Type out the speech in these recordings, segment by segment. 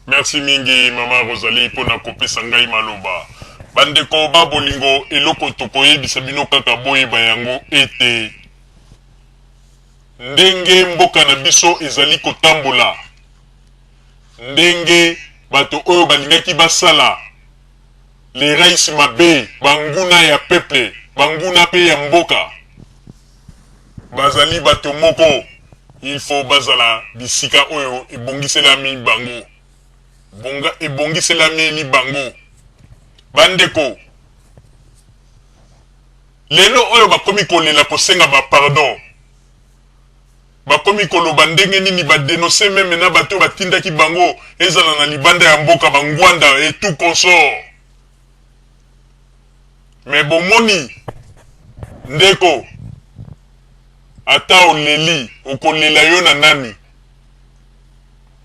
Merci mingi maman Rosalie pona kopesa ngai maloba. Bandeko ba bolingo eloko tokoyebisa bino kaka boyeba yango ete ndenge mboka na biso ezali kotambola ndenge bato oyo balingaki basala Les rais mabe, banguna ya peuple, banguna pe ya mboka. Bazali bato moko, il faut bazala bisika oyo ebongiselami bango. Bonga ebongiselameli bango. Bandeko, lelo oyo bakomi kolela kosenga ba pardon. Bakomi koloba ndenge nini ba denoncer meme na bato oyo batindaki bango ezala na libanda ya mboka ba ngwanda et tout consort mais bomoni ndeko ata oleli okolela yo na nani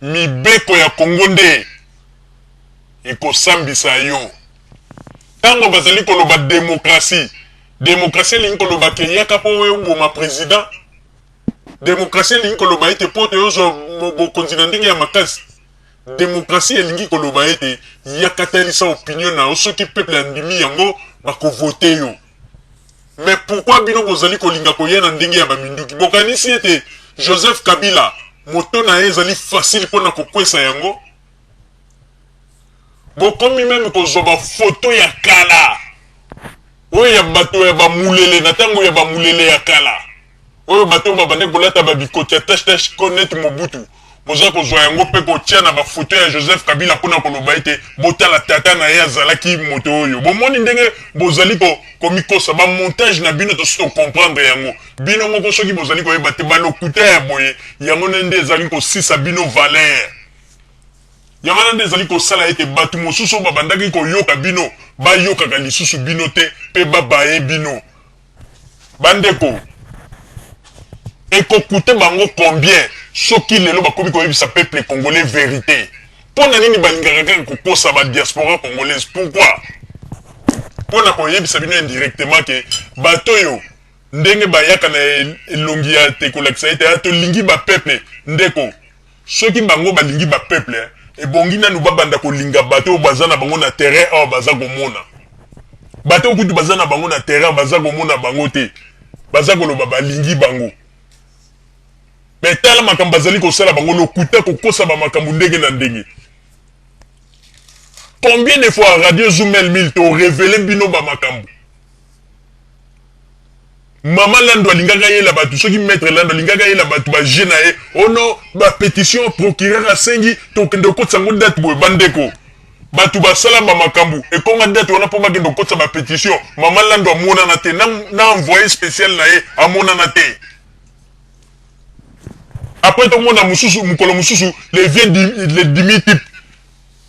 mibeko ya congo nde ekosambisa yo tango bazali koloba democratie democratie elingi koloba ke yaka po oboma president Demokrasi elingi koloba ete mpo tozwa bokonzi na ndenge ya makasi, demokrasi elingi koloba ete yaka talisa opinion na yo soki peuple andimi yango bako voter yo mais pourquoi bino bozali kolinga koya na ndenge ya ba minduki bokanisi ete Joseph Kabila moto na ye ezali facile mpo na kokwesa yango? Bokomi meme kozua ba photos ya kala oyo ya bato ya ba mulele na tango ya ba mulele ya kala oyo bato oyo babandaki kolata ba bikoti ya tache tache ko neti Mobutu boza kozua yango pe kotia na ba photos ya Joseph Kabila pona koloba ete botala tata na ye azalaki moto oyo. Bomoni ndenge bozali ko komikosa? Ba montages na bino tosi to comprendre yango bino moko soki bozali koyeba te ba lokuta ya boye yango nde ezali kosisa bino valeur. Yango wana nde ezali kosala ete bato mosusu oyo babandaki koyoka bino bayokaka lisusu bino te mpe babaye bino. Bandeko, eko coute bango combien soki lelo bakomi koyebisa peuple congolais verite? Mpo na nini balingaka kaka kokosa ba diaspora congolaise? Pourquoi? Mpo na koyebisa bino indirectement que bato oyo ndenge bayaka na elongi ya te kolakisa ete ah tolingi ba peuple ndeko Soki bango balingi ba peuple ebongi nanu babanda kolinga bato oyo baza na bango na terrain awa baza komona bato oyo kutu baza na bango na terrain baza komona bango te baza koloba balingi bango mais tala makambo bazali kosala bango lokuta kokosa ba makambo ndenge na ndenge combien de fois radio zoom el mil to revele bino ba makambo Maman landu alingaki ayela batu soki maitre landu alingaki ayela batu ba jeux na ye oh non ba petition procureur asengi tokende kokotisa ngo date boye ba ndeko batu basala ba makambu ekonga date wana po bakende kokotisa ba petition maman landu amonana te na, na envoye special na ye amonana te après tomona mususu mukolo mususu le vieux le dimi type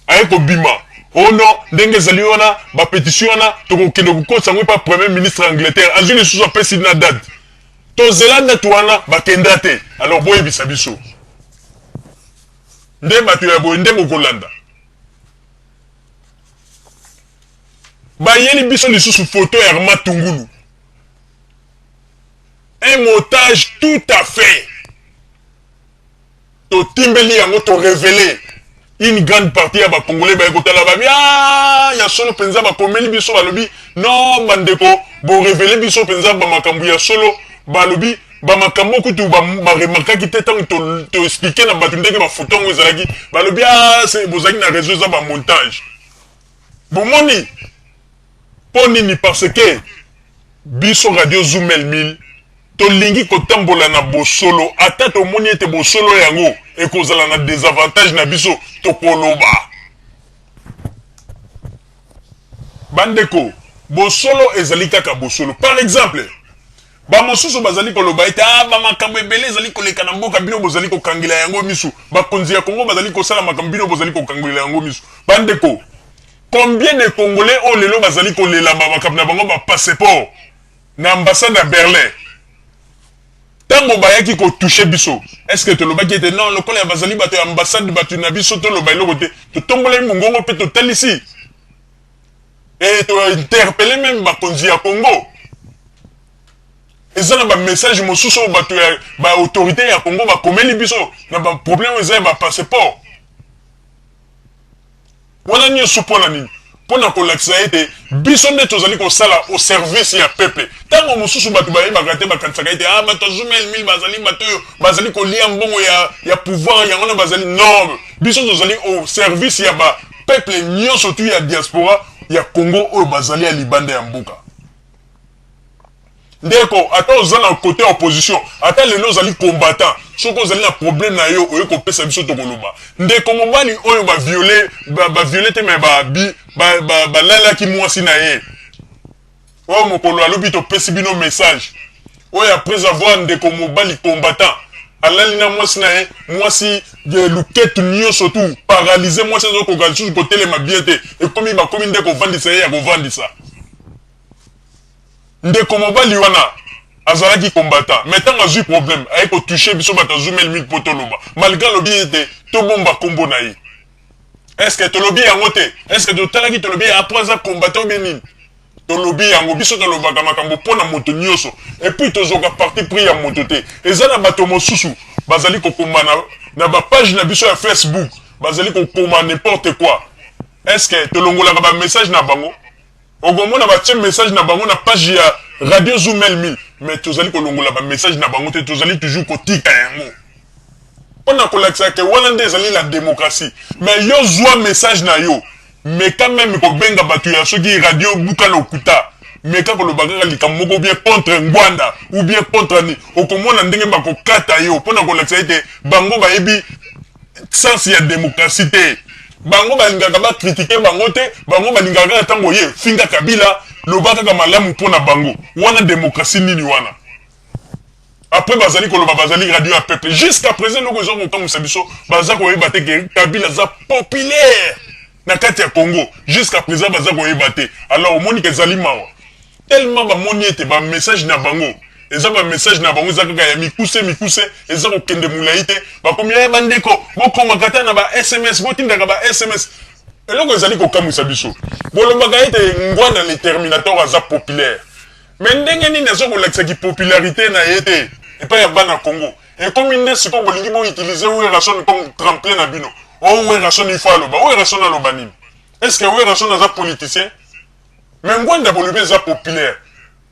aye kobima oh non ndenge ezali wana ba petition wana tokokende kokotisa yango epa premier ministre ya Angleterre azwi lisusu apesi na date tozela date wana bakenda te alors boyebisa biso nde bato ya boye nde bokolanda bayeli biso lisusu foto ya Arma Tungulu un montage tout à fait Totimbeli yango to revele une grande partie ya ba congolais baye kotala ba bi ah ya solo penza bakomeli biso balobi non bandeko bo revele biso penza ba makambo ya solo balobi ba makambo kutu ba ba remarkaki te tango to, to expliquer na bato ndenge ba photo yango ezalaki balobi ah bozalaki na réseau eza ba montage bomoni Po nini parce que biso radio zoom mille mille tolingi kotambola na bosolo ata tomoni ete bosolo yango ekozala na desavantage na biso tokoloba bandeko bosolo ezali kaka bosolo par exemple bamosusu bazali koloba ete a ah, bamakambo ebele ezali koleka na mboka bino bozali kokangela yango misu bakonzi ya kongo bazali kosala makambo bino bozali kokangela yango misu bandeko Combien de congolais oyo lelo bazali kolela ba makambo na bango ba passeport na ambassade ya Berlin? Tango bayaki ko toucher biso est ce que tolobaki ete non lokola ya bazali bato ya ambassade bato na biso toloba eloko te? Totombolaki mongongo mpe totalisi et to interpeller meme bakonzi ya Congo. Eza na ba messages mosusu oyo bato ya ba autorites ya Congo bakomeli biso na ba problèmes oyo eza ya ba passeports. Wana nionso mpo na nini? Mpo na kolakisa ete biso nde tozali kosala au service ya peuple. Tango mosusu batu bayebaka te, bakanisaka ete ah batu ya Zumel-mil bazali batu oyo bazali kolia mbongo ya ya pouvoir yango wana bazali non! Biso tozali au service ya ba peuples nionso tout ya diaspora ya Congo oyo bazali ya libanda ya mboka. Ndeko ata oza na cote ya opposition ata lelo ozali combattant soki ozali na problème na yo oye kopesa biso tokoloba ndeko mobali oyo ba viole ba, ba viole te mais ba bi ba, ba, balalaki mwasi na ye oyo mokolo alobi topesi bino message oyo après avoir ndeko mobali combattant alali na mwasi na ye mwasi luketu nyonso tu paralyse mwasi azokoka lisusu kotelema bien te ekomi bakomi nde kovandisa ye ya kovandisa Ndeko mobali wana azalaki combattant mais tango azui problème aye ko toucher biso batu ya zumel mingi po toloba malgre alobi ete tobomba kombo na ye est ce que tolobi yango te? Est ce que totalaki tolobi ye après aza combattant ou bien nini? Tolobi yango biso tolobaka makambo pona moto nioso et puis tozuaka parti pris ya moto te eza na bato mosusu bazali kokoma na na ba page na biso ya Facebook bazali kokoma n'importe quoi est ce que tolongolaka ba message na bango? Okomona batie message na bango na page ya Radio Zumel 1000 mais tozali kolongola ba message na bango te tozali toujours kotika yango pona kolakisa ke wana nde ezali la democratie mais yo zua message na yo meka meme kobenga bato ya soki radio buka lokuta meka koloba kaka likambo moko ou bien contre ngwanda ou bien contre ni okomona ndenge bakokata yo pona kolakisa ete bango bayebi sens ya democratie te bango balingaka ba critique bango te bango balingaka kaka tango oye finga kabila loba kaka malamu po na bango wana democratie nini wana après bazali koloba bazali radio ya peuple jusqu'à present eloko ezo kokamwisa biso baza koyeba te ke kabila aza populaire na kati ya Congo jusqu'à present baza koyeba te alors omoni ke ezali mawa tellement bamoni ete ba message na bango eza ba message na bango eza kaka ya mikuse mikuse eza kokende mulayi te bakomi ya eh, bandeko bokoma kata na ba sms botindaka ba sms eloko ezali kokamwisa biso bolobaka ete ngwana le terminator aza populaire me ndenge nini aza kolakisa kipopularité na ye te epai ya bana congo Ekomi nde sikoyo bolingi bo utiliser Werrason comme tremplin na bino. Oh Werrason il faut aloba. Werrason aloba nini? Est ce que Werrason aza politicien? Mais Ngwanda bolobi eza populaire.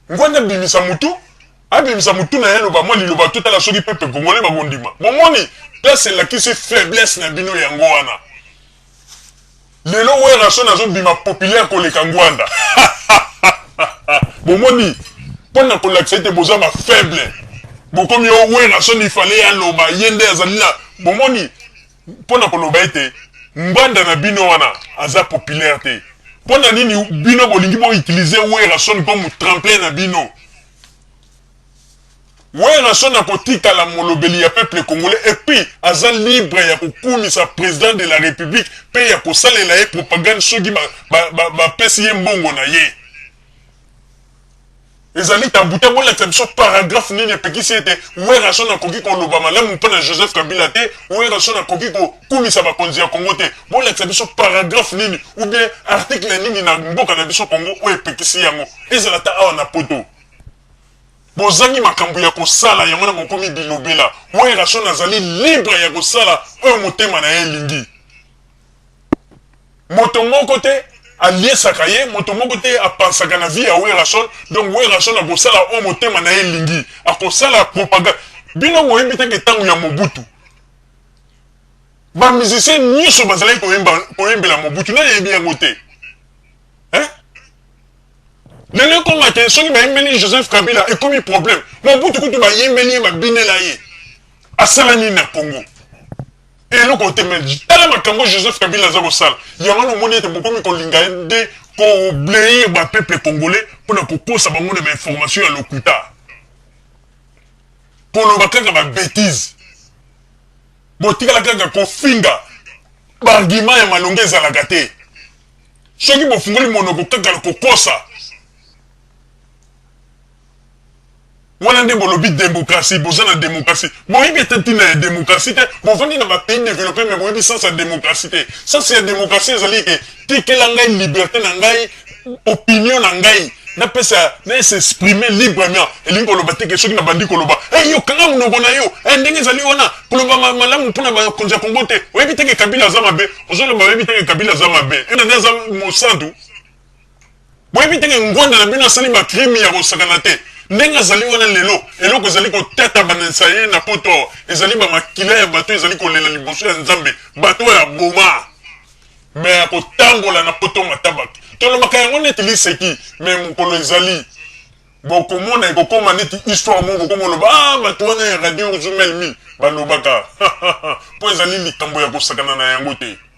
Ngwanda abimisa mutu, abimisa mutu na ye aloba mwa liloba totala soki peuple congolais bakondima. Bomoni? Place elakisi faiblesse na bino yango wana. Lelo werrason azo bima populaire koleka ngwanda bomoni pona kolakisa ete boza ba faible bokomi oh werrason il fallait ye aloba ye nde azali na bomoni pona koloba ete ngwanda na bino wana aza populaire te pona nini bino bolingi bo utilise werrason comme tremplin na bino Werrason akotikala molobeli ya peuple congolais et puis aza libre ya kokumisa president de la republique pe ya kosalela ye propagande soki ba ba bapesi ye mbongo na ye. Ezali tabou te, bolakisa biso paragraphe nini epekisi ete Werrason akoki koloba malamu mpo na Joseph Kabila te, Werrason akoki kokumisa bakonzi ya Congo te. Bolakisa biso paragraphe nini ou bien article nini na mboka na biso Congo oyo epekisi yango, ezala ata awa na poto. Bozangi makambu ya kosala yango wana bokomi bilobela. Werrason azali libre ya kosala oyo motema na ye elingi. Moto moko te aliesaka ye, moto moko te a pensaka na vie ya Werrason. Donc Werrason akosala oyo motema na ye elingi. Akosala propagande. Bino boyebi te que tango ya Mobutu ba musiciens nioso bazalaki koyemba koyembela Mobutu? Nani ayebi yango te? Hein? Lelo ekoma te soki bayimbeli Joseph Kabila ekomi problème. Mobutu kutu bayimbeli ye babinela ye. Asala nini na Congo? Eloko te mais tala makambo Joseph Kabila aza kosala. Yango wana omoni ete bokomi kolinga ye nde koblayer ba peuple congolais mpo na kokosa bango na ba information ya lokuta. Koloba kaka ba betises. Botikala kaka kofinga. Ba arguments ya malonga ezalaka te. Soki bofungoli monoko kaka na kokosa, wana nde bolobi democratie, boza na democratie. Boyebi ata ntina ya democratie te, bovandi na ba pays developpe mais boyebi sens ya democratie te. Sens ya democratie ezali ke tikela ngai liberte na ngai, opinion na ngai napesa na s'exprimer librement. Elingi koloba te ke soki nabandi koloba, hey, yo kanga monoko na yo, hey, ndenge ezali wana, koloba malamu mpona bakonzi ya Congo te. Oyebi te ke Kabila aza mabe? Ozo loba oyebi te que Kabila aza mabe. Yo nani aza mosantu? Boyebi te que Ngwanda na bino asali ba crime ya kosakana te. Ndenge azali wana lelo, eloko ezali kotatabanisa ye na poto awa, ezali ba makila ya bato ezali kolela liboso ya Nzambe, bato oyo aboma. Mais akotambola na poto matabaki. Tolobaka yango neti liseki, mais mokolo ezali. Bokomona ekokoma neti histoire moko bokoma oloba ah batu wana ya radio urzumelmi balobaka po ezali likambo ya kosakana na yango te.